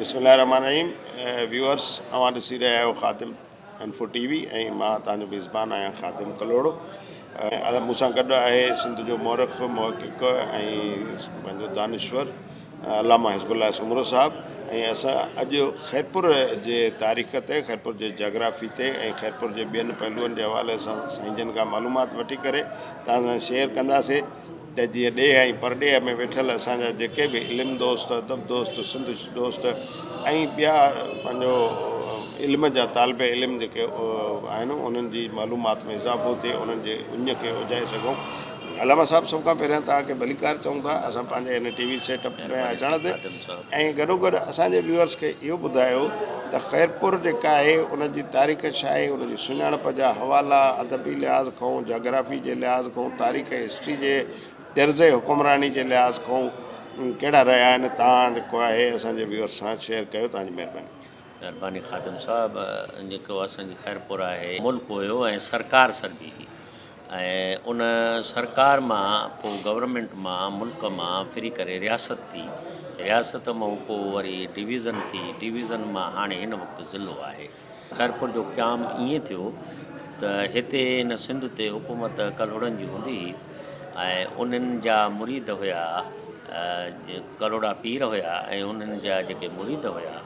بسم الله الرحمن الرحيم ويورس اوهان ڏسي رهيا آهيو خادم انفو ٽي وي ۽ مان تان جو ميزبان آهيان خادم ڪلهوڙو ۽ مون سان گڏ آهي سنڌ جو مورخ محقق ۽ پنهنجو دانشور علامه حزب الله سومرو صاحب ۽ اسان اڄ خيرپور جي تاريخ تي خيرپور جي جاگرافي تي ۽ خيرپور جي ٻين پهلوئن جي حوالي سان سائين جن کان معلومات وٺي ڪري تان سان شيئر ڪنداسي ته جيئن ڏيهه ۽ پرڏيهه ۾ ويٺل اسان جا جيڪي به علم دوست، ادب دوست، سنڌ دوست ۽ ٻيا پنهنجو علم جا طالب علم جيڪي آهن انهن جي معلومات ۾ اضافو ٿئي، انهن جي اڃ کي اجهائي سگهون. علامه صاحب سڀ کان پهريان توهان کي ڀليڪار چئون ٿا اسان پنهنجي هن ٽي وي سيٽ اپ ۾ اچڻ تي. ۽ گڏو گڏ اسان جي ويورز کي اهو ٻڌايو ته خيرپور جيڪا آهي ان جي تاريخ ڇا آهي ان جي سڃاڻپ جا حوالا ادبي لحاظ کانئون جاگرافي جي لحاظ کانئون تاريخ ۽ هسٽري جي طرز حڪمراني جي لحاظ کانئون ڪهڙا رهيا آهن تان جيڪو آهي اسان جي ويورز سان شيئر ڪيو تان جي مهرباني. مهرباني خادم صاحب جيڪو اسان جي خيرپور آهي ملڪ هيو ۽ سرڪار سربي هئي ۽ ان سرڪار مان پو گورنمينٽ مان ملڪ مان ڦري ڪري رياست ٿي رياست مئون پو وري ڊويزن ٿي ڊويزن مان هاڻي هن وقت ضلعو آهي. خيرپور جو قيام ائين ٿيو ته هتي هن سنڌ تي حڪومت ڪلهوڙن جي هوندي هئي ۽ انهن جا مريد هيا ڪلهوڙا پير هيا ۽ انهن جا جيڪي مريد هيا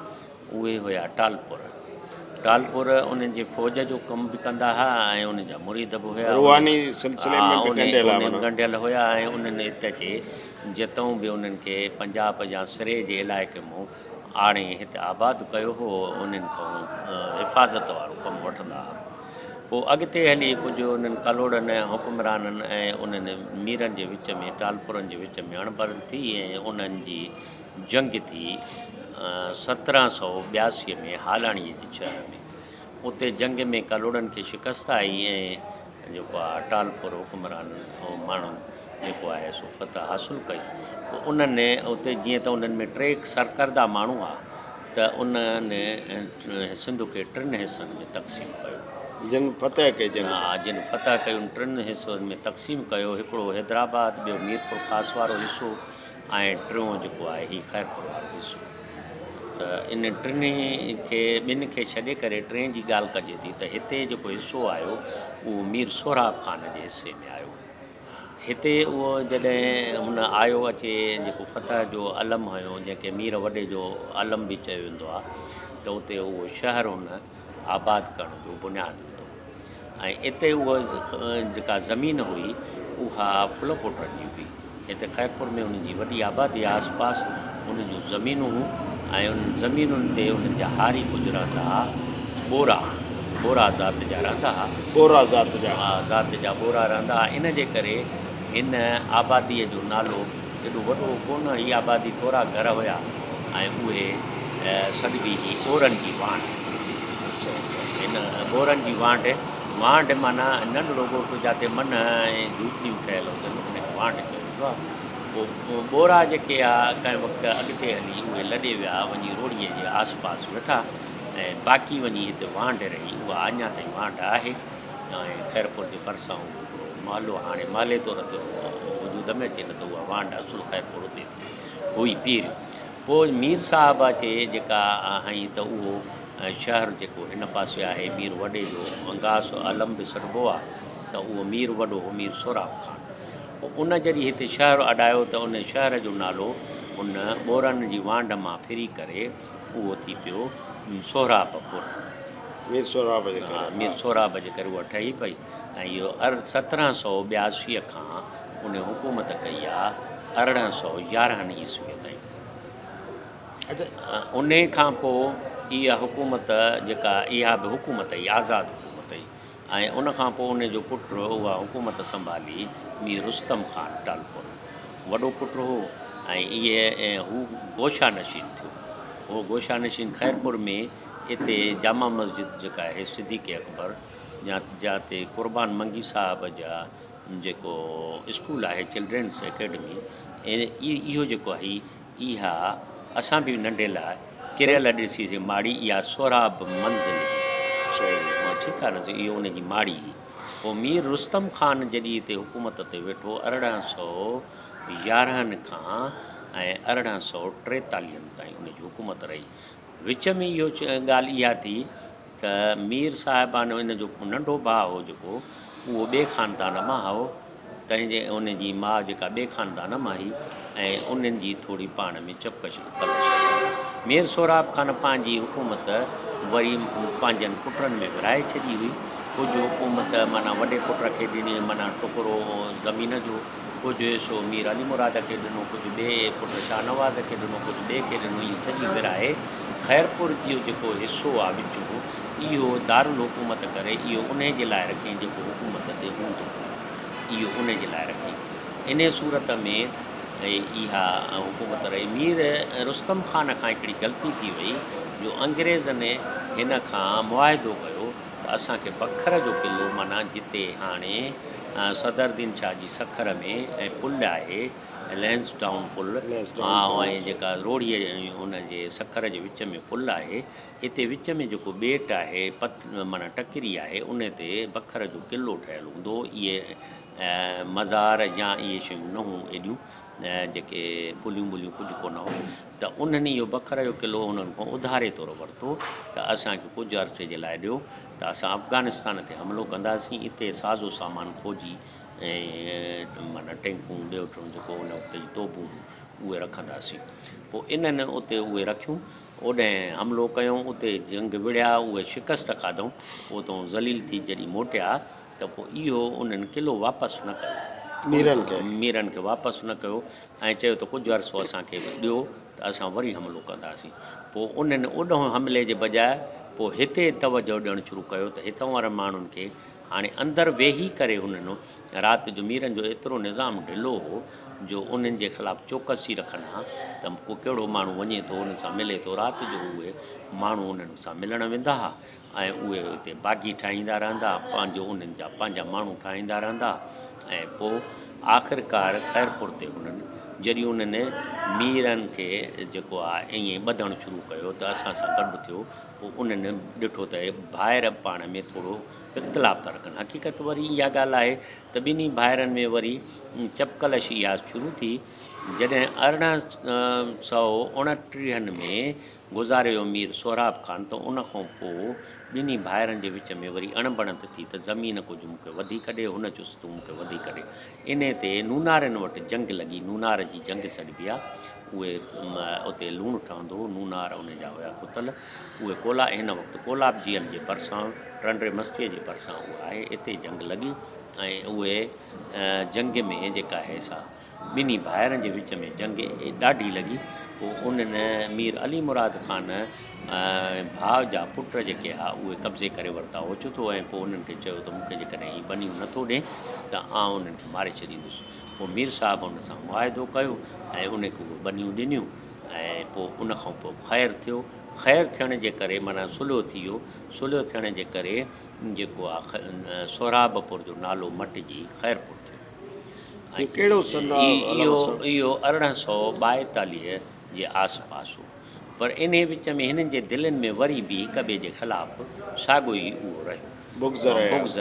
اهي هيا ٽالپور. ٽالپور انهن جي فوج جو ڪم به ڪندا هيا ۽ انهن جا مريد به هيا. روحاني سلسلي ۾ به ڳنڍيل هيا. انهن ڳنڍيل هيا ۽ انهن هت جي جتئون به انهن کي پنجاب يا سري جي علائقي مون آڻي هت آباد ڪيو هو انهن کئون حفاظت وارو ڪم وٺندا هيا. پوء اڳتي هلي ڪجهه انهن ڪلهوڙن حڪمرانن ۽ انهن ميرن جي وچ ۾ ٽالپورن جي وچ ۾ اڻبڻت ٿي ۽ انهن جي جنگ ٿي سترهن سؤ ٻياسي ۾ هالاڻيء جي شهر ۾. اتي جنگ ۾ ڪلهوڙن کي شڪست آئي ۽ جيڪو آهي اٽالپور حڪمران ماڻهن جيڪو آهي سو فتح حاصل ڪئي. پوء انهن اتي جيئن ته انهن ۾ ٽي سرڪرده ماڻهو هئا ته انهن سنڌ کي ٽن حصن ۾ تقسيم ڪيو. جن فتح ڪئي جن. ها جن فتح ڪئي ان ٽن حصن ۾ تقسيم ڪيو. هڪڙو حيدرآباد، ٻيو ميرپور خاص وارو حصو. ۽ ٽيون جيڪو آهي هي خير پور وارو حصو ته ان ٽنهي کي ٻن کي ڇڏي ڪري ٽئين جي ڳالهه ڪجي ٿي ته هتي جيڪو حصو آيو اهو مير سهراب خان جي حصي ۾ آيو هتي اهو جڏهن هن آيو اچي جيڪو فتح جو علم هنيو جنهن کي مير وڏي جو علم به چيو ويندو آهي ته اتي اهو شهر هن آباد ڪرڻ جو بنياد وڌو ۽ اتي اها جيڪا زمين هئي اها ڦلو پوٽر جي هئي هتي خيرپور ۾ انهن جي وڏي آبادي آس پاس انهن جون زمينون هون ۽ انهن زمينن تي انهن جا هاري ڪجهه رهندا ها ٻورا ٻورا ذات جا رهندا ها ٻورا ذات جا ها ذات جا ٻورا رهندا ها ان جي ڪري هن آباديء جو نالو ايڏو وڏو ڪونه هئي، آبادي ٿورا گهر هيا ۽ اهي سڏبي جي ٻورن جي وانڍ چئبي آهي. هن ٻورن جي وانڍ، وانڍ معنيٰ ننڍڙو ڳوٺ جاتي منهه ۽ جهوپڙيون ٺهيل هجن ان کي وانڍ چيو ويندو آهي. پوء ٻورا جيڪي هيا ڪنهن وقت اڳتي هلي اهي لڏي ويا وڃي روڙيء جي آس پاس ويٺا ۽ باقي وڃي هتي وانڍ رهي اها اڃا تائين وانڍ آهي ۽ خيرپور جي ڀرسان اهو مالو هاڻي مالي طور تي وجود ۾ اچي نه ته اها وانڊ اصل خير پور اتي ٿي هئي پير پوء مير صاحب اچي جيڪا هنئي ته اهو شهر جيڪو هن پاسي آهي مير وڏي جو انگاس علم به سڏبو آ ته اهو مير وڏو هو مير سهراب خان پوء ان جڏهن هتي شهر اڏايو ته ان شهر جو نالو ان ٻورن جي وانڊ مان ڦري ڪري اهو ٿي پيو سهراب پور مير سهراب جي ڪري ها مير سهراب جي ڪري اها ٺهي پئي ۽ اهو عرض سترهن سؤ ٻياسي کان ان حڪومت ڪئي آ ارڙهن سؤ يارهن عيسويء تائين. ان کان پوء اها حڪومت جيڪا اها به حڪومت ئي آزاد حڪومت هئي ۽ ان کان پوء ان جو پٽ اها حڪومت سنڀالي مير رستم خان ٽالپر وڏو پٽ هو ۽ هو گوشه نشين ٿيو. اهو گوشه نشين خيرپور ۾ اتي جامع مسجد جيڪا آهي صديق اڪبر. جاتي قربان منگي صاحب جا جيڪو اسڪول آهي چلڊرينس اڪيڊمي اهو جيڪو آهي اها اسان به ننڍي لاء ڪريل ڏسي سي ماڙي اها سهراب منزل ٺيڪ آهي نه اهو ان جي ماڙي پوء مير رستم خان جڏي هتي حڪومت تي ويٺو ارڙهن سو يارهن کان ۽ ارڙهن سو ٽيتاليهن تائين ان جي حڪومت رهي وچ ۾ اهو ڳالهه اها ٿي ته مير صاحبانو ان جو ننڍو ڀاء هو جيڪو اهو ٻئي خاندان مان هئو تنهن جي ان جي ماء جيڪا ٻئي خاندان مان هئي ۽ انهن جي ٿوري پاڻ ۾ چپڪش تلش هئي. مير سهراب خان پنهنجي حڪومت وري پنهنجن پٽن ۾ ورهائي ڇڏي هئي. ڪجهه حڪومت معنيٰ وڏي پٽ کي ڏني معنيٰ ٽڪرو زمين جو. ڪجهه حصو مير علي مراد کي ڏنو، ڪجهه ٻئي پٽ شاهنواز کي ڏنو، ڪجهه ٻئي کي ڏنو، ائين سڄي ورهائي خيرپور جو جيڪو حصو آ وچون، اهو دارالحڪومت ڪري، اهو انهي جي لاء رکين جيڪو حڪومت تي هوندو، اهو انهي جي لاء رکين. انهي صورت ۾ اها حڪومت رهي. مير رستم خان کان هڪڙي غلطي ٿي وئي جو انگريزن هن کان معاهدو ڪيو ته اسان کي بکر جو قلعو معنيٰ جتي هاڻي صدر دين شاهه جي سکر ۾ ۽ پل آهي لينس ٽائون پل ۽ جيڪا روهڙي ان جي سکر جي وچ ۾ پل آهي اتي وچ ۾ جيڪو ٻيٽ آهي پت معنيٰ ٽڪري آهي ان تي بکر جو قلعو ٺهيل هوندو هو اهي مزار يا اهي شيون نه هون ايڏيون جيڪي پليون ٻليون ڪجهه ڪونه هو ته انهن اهو بکر جو قلعو انهن کان اڌاري طور ورتو ته اسانکي ڪجهه عرصي جي لاء ڏيو ته اسان افغانستان تي حملو ڪنداسين، اتي ساز و سامان فوجي ۽ معنيٰ ٽينڪون ٻيو ٽيون جيڪو ان وقت جي توبون هيون اهي رکنداسين. پوء انهن اتي اهي رکيون، اوڏانهن حملو ڪيائون، اتي جنگ وڙهيا، اهي شڪست کاڌائون، پوء اتان ذليل ٿي جڏهن موٽيا ته پوء اهو انهن قلعو واپس نه ڪيو، ميرن کي واپس نه ڪيو ۽ چيو ته ڪجهه عرصو اسان کي به ڏيو ته اسان وري حملو ڪنداسين. پوء انهن اوڏانهن حملي جي بجاء پوء هتي توجهه ڏيڻ شروع ڪيو ته هتان وارن ماڻهن کي هاڻي اندر ويهي ڪري هنن رات جو ميرن جو ايترو نظام ڍلو هو جو انهن جي خلاف چوڪسي رکن ها ته ڪو ڪهڙو ماڻهو وڃي ٿو انهن سان ملي ٿو رات جو اهي ماڻهو انهن سان ملڻ ويندا ها ۽ اهي اتي باغي ٺاهيندا رهندا، پنهنجو انهن جا پنهنجا ماڻهو ٺاهيندا رهندا ۽ پوء آخرڪار خيرپور تي هنن جڏهن انهن ميرن کي جيڪو آ ائين ئي ٻڌڻ شروع ڪيو ته اسان سان گڏ ٿيو پوء انهن ڏٺو ته اهي ڀائر پاڻ ۾ ٿورو اختلاف ٿا رکن حقيقت وري اها ڳالهه آهي ته ٻنهي ڀائرن ۾ وري چپڪلش اها شروع ٿي جڏهن ارڙهن سئو اڻٽيهن ۾ گذاريو مير سهراب خان ته ان کان پوء ٻنهي ڀائرن جي وچ ۾ وري اڻبڻت ٿي ته زمين ڪجهه مون کي وڌيڪ ڏي هن چيس تون مون کي وڌيڪ ڏي انهي تي نونارين وٽ جنگ لڳي نونار جي جنگ سڏبي آ اهي اتي لوڻ ٺهندو هو نونار انهي جا هيا ڪتل اهي ڪولا هن وقت ڪولاب جيل جي ڀرسان ٽنڊي مستي جي ڀرسان اهو آهي اتي جنگ لڳي ۽ اهي جنگ ۾ جيڪا هي سا ٻنهي ڀائرن جي وچ ۾ جنگ ڏاڍي لڳي. پوء انهن مير علي مراد خان ۽ ڀاء جا پٽ جيڪي ها اهي قبضي ڪري ورتا اوچتو ۽ پوء انهن کي چيو ته مون کي جيڪڏهن هي ٻنيون نه ٿو ڏين ته آئون انهن کي ماري ڇڏيندس. پوء مير صاحب ان سان معاهدو ڪيو ۽ انهن کي اهي ٻنيون ڏنيون ۽ پوء ان کان پوء خير ٿيو. خير ٿيڻ جي ڪري معنيٰ صلح ٿي ويو. صلح ٿيڻ جي ڪري جيڪو آ سهرابپور جو نالو مٽجي خيرپور. اهو ارڙهن سؤ ٻائيتاليهه جي آس پاس هو، پر انهي وچ ۾ هنن جي دلين ۾ وري به هڪ ٻئي جي خلاف ساڳيو ئي اهو رهيو بغض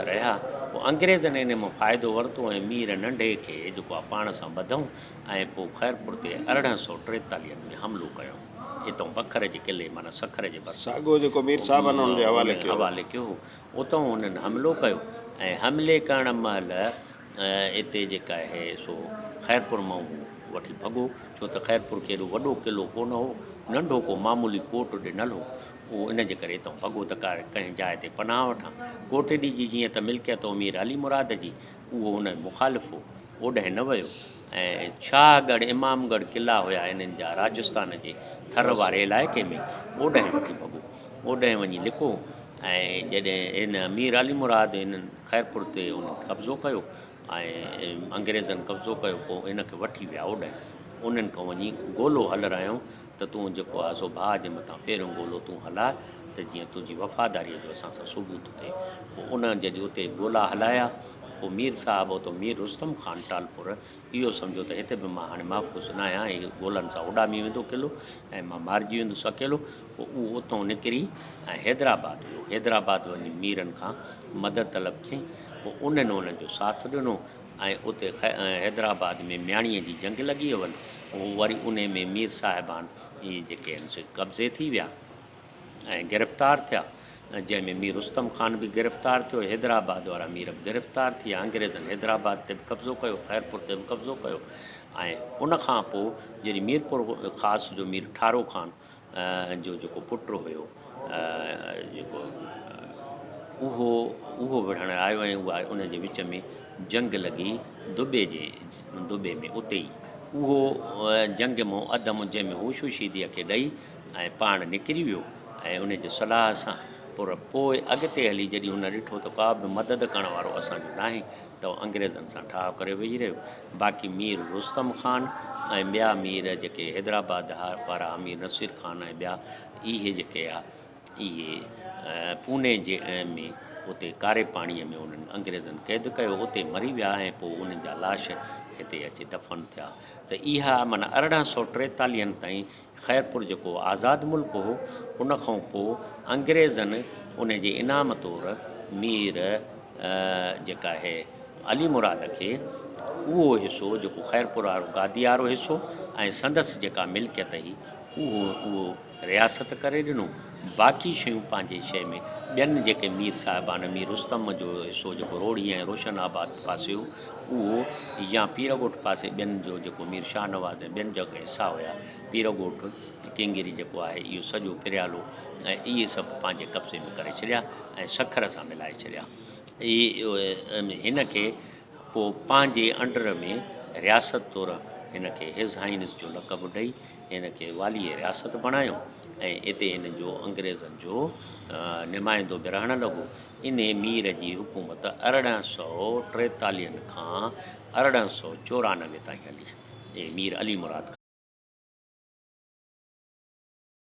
رهيا. پوء انگريزن انهي مان فائدو ورتو ۽ مير ننڍي کي جيڪو آ پاڻ سان ٻڌئون ۽ پوء خيرپور تي ارڙهن سؤ ٽيتاليهه ۾ حملو ڪيئون. اتئون بکر جي قلعي معنيٰ سکر جي ڀرسان هو. هن حوالي ڪيو هو. اتان انهن حملو ڪيو ۽ حملي ڪرڻ مهل اتي جيڪا آهي سو خيرپور مان هو وٺي ڀڳو ڇو ته خيرپور کي ايڏو وڏو قلعو ڪونه هو ننڍو ڪو معمولي ڪوٽ ڏنل هو اهو ان جي ڪري اتان ڀڳو ته ڪا ڪنهن جاء تي پناهه وٺان ڪوٽڏي جي جيئن ته ملڪيت هو مير علي مراد جي اهو ان جو مخالف هو اوڏانهن نه ويو ۽ شاهه ڳڙهه امام ڳڙهه قلعا هيا انهن جا راجستان جي ٿر واري علائقي ۾ اوڏانهن وٺي ڀڳو اوڏانهن وڃي لڪو ۽ جڏهن هن امير علي مراد هن خيرپور تي ان قبضو ڪيو ۽ انگريزن قبضو ڪيو پوء ان کي وٺي ويا اوڏانهن انهن کان وڃي گولو هلرايائون ته تون جيڪو آزو ڀاء جي مٿان پهريون گولو تون هلاء ته جيئن تنهنجي وفاداريء جو اسان سان ثبوت ٿئي پوء انهن جڏهن اتي گولا هلايا پوء مير صاحب اتو مير رستم خان ٽالپور اهو سمجهو ته هتي به مان هاڻي محفوظ نه آهيان، هي گولن سان اڏامي ويندو قلعو ۽ مان مارجي ويندس اڪيلو. پوء اهو اتهون نڪري ۽ حيدرآباد ويو. حيدرآباد وڃي ميرن کان مدد طلب ڪيائين. پوء انهن هن جو ساٿ ڏنو ۽ اتي حيدرآباد ۾ مياڻيء جي جنگ لڳي هئن. وري انهي ۾ مير صاحبان جي جيڪي هن سي قبضي ٿي ويا. ۽ گرفتار ٿيا جنهن ۾ مير رستم خان به گرفتار ٿيو حيدرآباد وارا مير به گرفتار ٿي ويا انگريزن حيدرآباد تي به قبضو ڪيو خيرپور تي به قبضو ڪيو ۽ ان کان پوء جڏهن ميرپور خاص جو مير ٺارو خان جو جيڪو پٽ هيو جيڪو اهو اهو وڙهڻ آيو ۽ اها ان جي وچ ۾ جنگ لڳي دبي جي دبي ۾ اتي ئي اهو جنگ مون اڌ مون جنهن ۾ هوشوشيديء کي ڏئي ۽ پاڻ نڪري ويو ۽ ان جي صلاح سان پر پوء اڳتي هلي جڏهن هن ڏٺو ته ڪابه مدد ڪرڻ وارو اسان جو ناهي ته هو انگريزن سان ٺاهه ڪري ويهي رهيو باقي مير رستم خان ۽ ٻيا مير جيڪي حيدرآباد وارا امير نصير خان ۽ ٻيا اهي جيڪي آ اهي پوني جي ۾ اتي ڪاري پاڻي ۾ انهن انگريزن قيد ڪيو اتي مري ويا ۽ پوء انهن جا لاش هتي اچي دفن ٿيا ته اها معنيٰ ارڙهن سؤ ٽيتاليهن تائين خيرپور جيڪو آزاد ملڪ هو، ان کان پوء انگريزن ان جي انعام طور مير جيڪا آهي علي مراد کي اهو حصو جيڪو خيرپور وارو گادي وارو حصو ۽ سندس جيڪا ملڪيت هئي اهو اهو رياست ڪري ڏنو باقي شيون پنهنجي شيء ۾، ٻين جيڪي مير صاحبان مير رستم جو حصو جيڪو روهڙي ۽ روشن آباد پاسي هو. اهو يا پيرڳوٺ پاسي ٻين جو جيڪو مير شاهنواز ۽ ٻين جاکي حصا هيا، پيرڳوٺ، ڪينگيري جيڪو آهي اهو سڄو پريالو ۽ اهي سڀ پنهنجي قبضي ۾ ڪري ڇڏيا ۽ سکر سان ملائي ڇڏيا. اهي هن کي پوء پنهنجي انڊر ۾ رياست طور هن کي هيز هائينس جو لقب ڏئي هن کي واليء رياست بڻايو ۽ اتي هن جو انگريزن جو نمائندو به رهڻ لڳو. انهيء مير جي حڪومت ارڙهن سؤ ٽيتاليهن کان ارڙهن سؤ چورانوي تائين هلي. مير علي مراد خان.